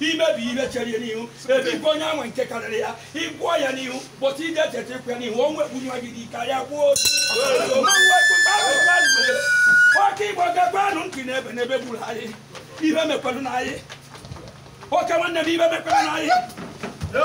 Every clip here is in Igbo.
imebi ihe chere ya n'ihu ebikwa onye anwa nke karịrị ya ịgwọ ya n'ihu bụta ije cheta ịkwa ya n'ihu o nwekwu nwa gị dị karịa gwụọ otu oke igbo gekwanụ ntị n'ebe n'ebe gburu anyị ihe mekwelu na anyị oke nwanne m ibe mekwelu na anyị Yeah.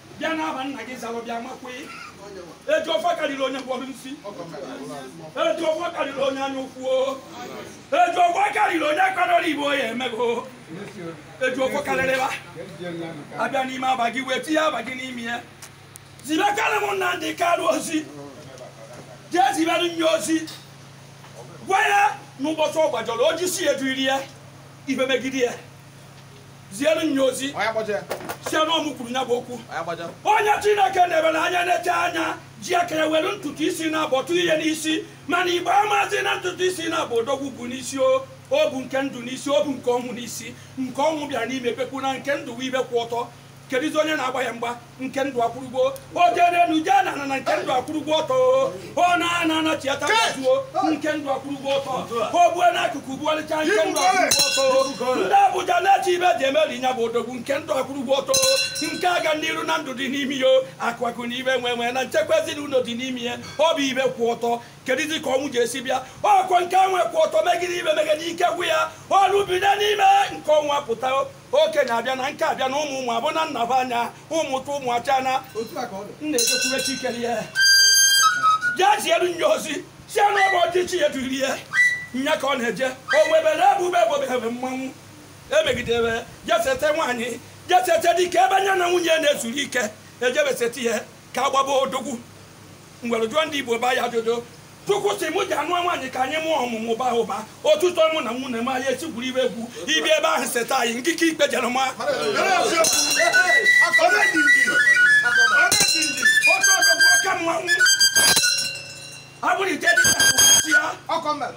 bịa n'aha nna gị zalụ bịa makwe eji ofe karịrị onye mkpọrọ nsi eji ofe karịrị onye anya ukwu o eji ofe karịrị onye kwadoro igbu ya emego eji ofe karịrịba abịa n'ime aba gị wee tinye aba gị n'ime ya zibekarị m nna ndị karụ ozi jee zibere nya ozi gwa ya n'ụbọchị ọ gbajọrọ oji si eduri ya ibe megide ya ziere nya ozi sị na ọ mụ kwuru nya bụ okwu onye chineke na-ebere anya na-eche anya ji aka were ntutu isi naabọ tụ ihe n'isi mana igbo amazi na ntutu isi naabọ odogwu bu n'isi o o bu nke ndụ n'isi o bu nke ọnwụ n'isi nke ọnwụ bịara n'ime pekwu na nke ndụ ibe kwụ ọtọ kedụzi onye na-agba ya mgba nke ndụ akwụrụgbo ojerenu je na na nke ndụ akwụrụgbo ọtọ ọ na ana anachiata zuo nke ndụ akwụrụgbo ọtọ o bue n'akụkụ buọlịcha nke ndụ akwụrụgbo ọtọ ndị abuja na-eche ibe ji emeri nya bụ odogwu nke ndụ akwụrụgbo ọtọ nke ọganiru na ndụ dị n'ime ya akụ akụ na ibe enwe enwe na nchekwa ezinụlọ dị n'ime ya ọ bụ ibe kwụ ọtọ kedụzi ka ọnwụ ji esi bịa ọ kwa nke ọnwa kwụ ọtọ megide ibe megide ike gwụ ya ọnwụ bido n'ime nke ọnwa pụta okenye abịa na nke abịa na ụmụ ụmụ abụ na nnaba anya ụmụ tụ ụmụ acha na otu a ka ọ dị nna ejekwube chikere ya ya zielu nya ozi si anụ ebe ọchịchị ya duri ya nya ka ọ na-eje o nwebere ebube ebobebe mmanwụ emegidere jesete nwaanyị jesete dike ebe anya na nwunye na-ezuru ike ejebesete ya ka agbaba odogwu ngwere jụọ ndị igbo ba ya ajụjụ chukwu sị mụ jee nụ nwaanyị ka anyị mụọ ọmụmụ baa ụba ọtụtụ mụ na nwunye m anyị esi gwuru ibe egwu ị bịa ebe ahụ seta anyị nkike ikpe jere ma oke mmanwụ abụrụ ite dị ya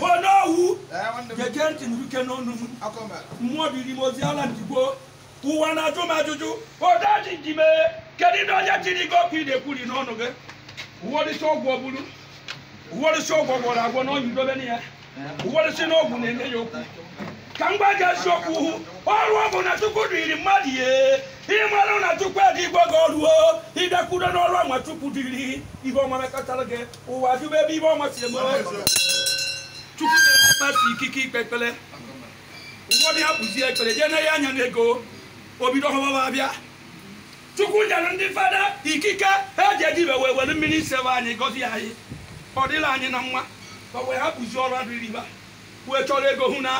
onowu gege ntị nụrụ ike n'ọnụ m mmụọ ziri m ozi ala ndigbo ụwa na-ajụ m ajụjụ odaji ji mee kedu ndị onye ziri gị okwu ị na-ekwuri n'ọnụ gị ụfọdụ sị ọgwụ ọ bụrụ ụfọdụ sị ọgwụ gwọrọ agwọ na onye dobere ya ụfọdụ sị na ọgwụ na-enye ya okwu ka m gwa gị eziokwu hụ ọrụ ọbụna chukwu dịrị mmadụ ihe ịmarụ na chukwu adịgbo gị ọrụ o ị bịakwudo n'ọrụ ọnwa chukwu dịrị ihe ọma mekọtara gị ụwa jụba ebe ibe ọnwa si eme chukwu nyere pastọ ikike ikpe ekpere ụfọdụ hapụzie ekpere jee na ya anya na ego obido họbaba abịa chukwu nyere ndị fada ikike ha ji edibe wee were mmiri isebe anyị gọzie anyị ọ dịla anyị na mma fa wee hapụzi ọrụ dịrị fa wee chọrọ ego hụ na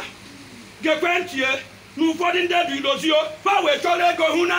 gekwe ntị na ụfọdụ ndị dị idozio fa wee chọrọ ego hụ na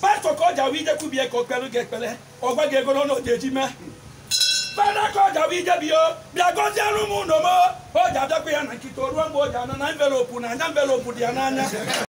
pastọ ka ọ jawa ije kwubie ka o kpere gị ekpere ọ gwa gị ego n'ọnụ ọ ja-eji mee fada ka ọ jawa ije biko bịa gọziere m ụlọ m ọ ja-abịakwa ya na nkịtị o ruo mgbe ọ ja-ana envelopu na anya envelopu dị ya n'anya